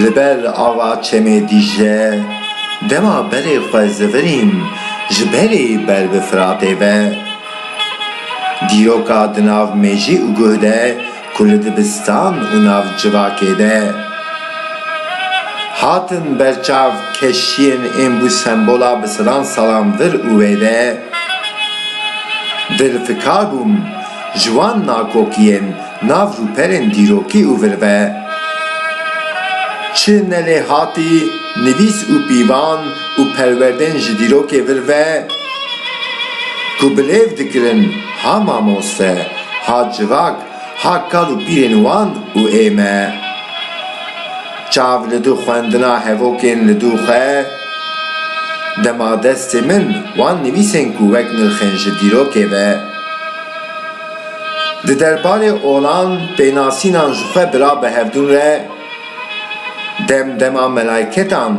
Li ber ava çemê Dîcle dema berê xwe zivirîn ji berê ber bi Firatê ve. Dîroka di nav mejî û guh de ku li dibistan û navcirakê de hatin berçav keşiyên ên bû sembola bisiran salan vir û wê de dilfikar bûm ji wan nakokiyên nav rûperên dîrokî û vir ve çi nelêhatî nivîs û pîvan û perwerdên ji dîrokê vir ve ku bi lêv dikirin. Ha mamoste, ha civak, ha kal û pîrên wan û ê me. Çav li du xwendina hevokên li du xwe, dema destê min wan nivîsên ku wek nirxên ji dîrokê ve. Di derbarê olan pênasînan ji xwe bira bi hevdûn re, dem dema melaîketan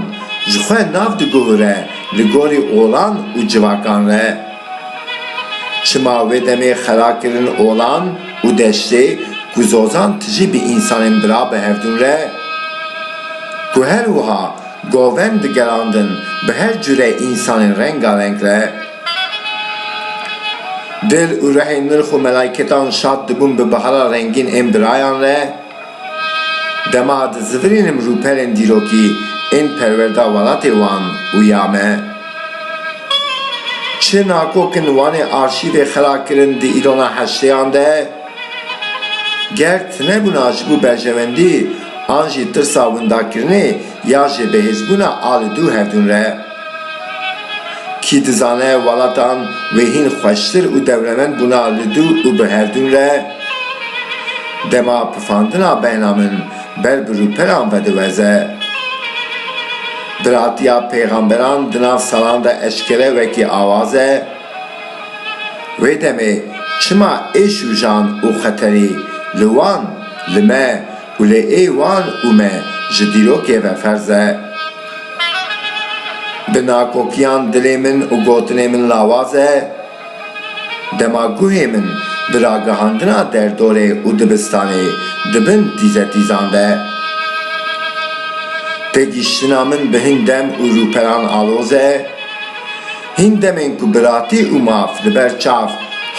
ji xwe nav diguhûre li gorî olan û civakan re. Çima wê demê xera kirin olan û deştê ku zozan tijî bi însanên bira bi hevdûn re ku her wiha govend digerandin bi her cure însanên rengareng re dil û rehên nirx û melaîketan şad dibûn bi bihara rengîn ên birayan re. Dema di zivirînim rûperên dîrokî ên perwerda welatê wan û ya me. Çi nakok in wanê arşîvê xera kirin di îrona heştêyan de. Ger tinebûna ji bo berjewendî an jî tirsa windakirinê ya jêbihêzbûna a li dû hevdûn re. Kî dizane welatan wê hîn xweştir û dewlemend bûna li dû û bi herdûn re dema pifandina beyna min ber bi rûperan ve diweze. Biratiya pêxamberan di nav salan de eşkere wekî awaz e. Wê demê çima êş û jan û xeterî li wan, li me, Wlê ê wan û me ji dîrokê ve ferz e. Bi nakokiyan dilê min û gotinê min lawaz e. Dema guhê min bi ragihandina derdorê û dibistanê di bin tîzetîzan de. Têgihiştina min bi hin dem û rûperan aloz e. Hin demên ku biratî û maf li ber çav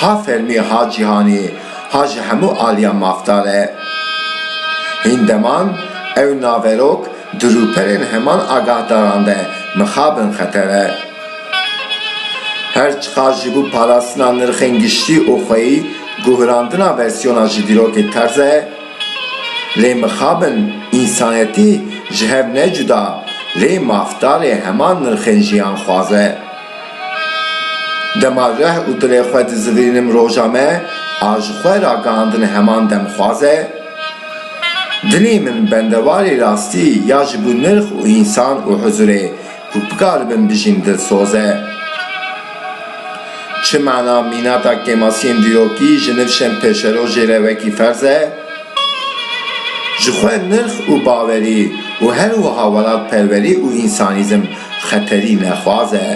ha fermî ha cîhanî ha ji hemû aliyan mafdar e. Hîn deman ew naverok di rûperên heman agahdaran de mixabin xeter e. Her çiqas ji bo parastina nirxên giştî û xweyî guhrandina versiyona ji dîrokê terz e, lê mixabin însanetî ji hev ne cuda lê mafdarê heman nirxên jiyanxwaz e. Dema rih û dilê xwe dizivînim roja me a ji xwe ragihandin heman demxwaz e. Dilê min bendewarê rastî ya ji bo nirx û însan û huzurê ku bikaribim bijîm dilsoz e. Çi mana mînata kêmasiyên dîrokî ji nivşên pêşerojê re wekî ferz e? Ji xwe nirx û bawerî û her wiha welatperwerî û însanîzm Xeterî nexwaz e.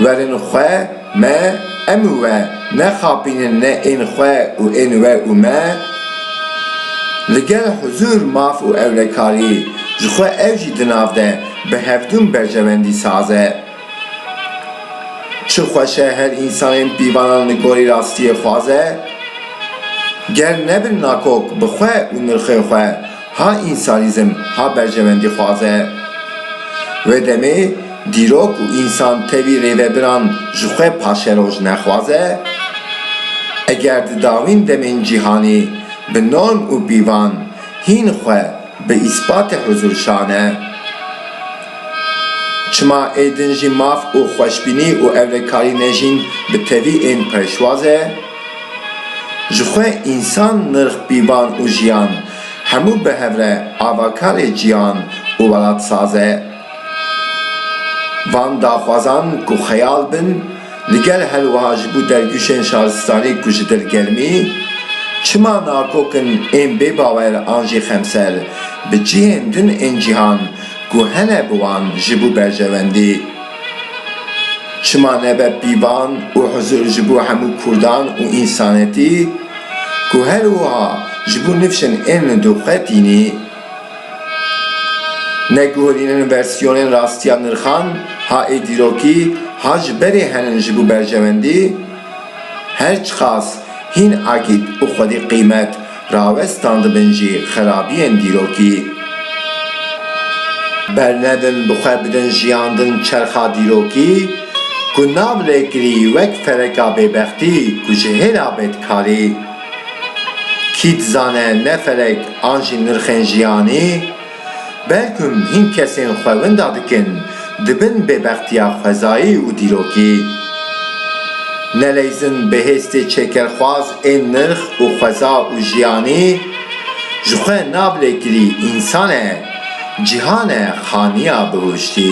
Werin xwe me em û we nexapînin ne ên xwe û ên we û me. Li gel huzûr, maf û ewlekarî ji xwe ew jî di nav de bi hevdûm berjewendî saz e. Çi xweş e her însanên pîvanan li gorî rastiyê xwaz e. Ger nebin nakok bi xwe û nirxê xwe, Ha însanîzm, ha berjewendîxwaze. Wê demê dîrok û însan tevî rêvebiran ji xwe paşeroj nexwaze? Eger di dawîn demên cîhanê bi norm û pîvan hîn xwe bi îspatê huzûr şane, çima êdin jî maf û xweşbînî û ewlekarî ne jîn bi tevî ên pêşwaze? Ji xwe însan nirx pîvan û jiyan Hemû bi hev re avakarê jiyan û welat saz e. Van daxwazan ku xeyal bin, li gel her wiha ji bo dergûşên şaristanî ku ji dil germî, çima nakokin ên bêbawer an jî xemser bi cihên din ên cîhan ku hene bi wan ji bo berjewendî Çima nebe pîvan û huzur ji bo hemû Kurdan û însanetî ku her wiha ji bo nifşên ên li doxê tînî neguherînin versiyonên rastiya nirxan ha ê dîrokî ha ji berê henin ji bo berjewendî her çiqas hîn akît û xwedî qîmet Rawestan dibin jî xerabiyên dîrokî. Bernedin bi xwe bidin jiyandin çerxa dîrokî ku nav lê kirî wek fereka bêbextî ku ji hêla bê dikarî. Kî dizane ne ferek an jî nirxên jiyanî, Belkim hîn kesên xwe winda dikin, dibin bêbextiya xwezayî û dîrokî. Neleyzin bêhêstê çêkerxwaz ên nirx û xweza û jiyanî, ji xwe nablêkirî însan e, cîhan e xaniya bihuştî.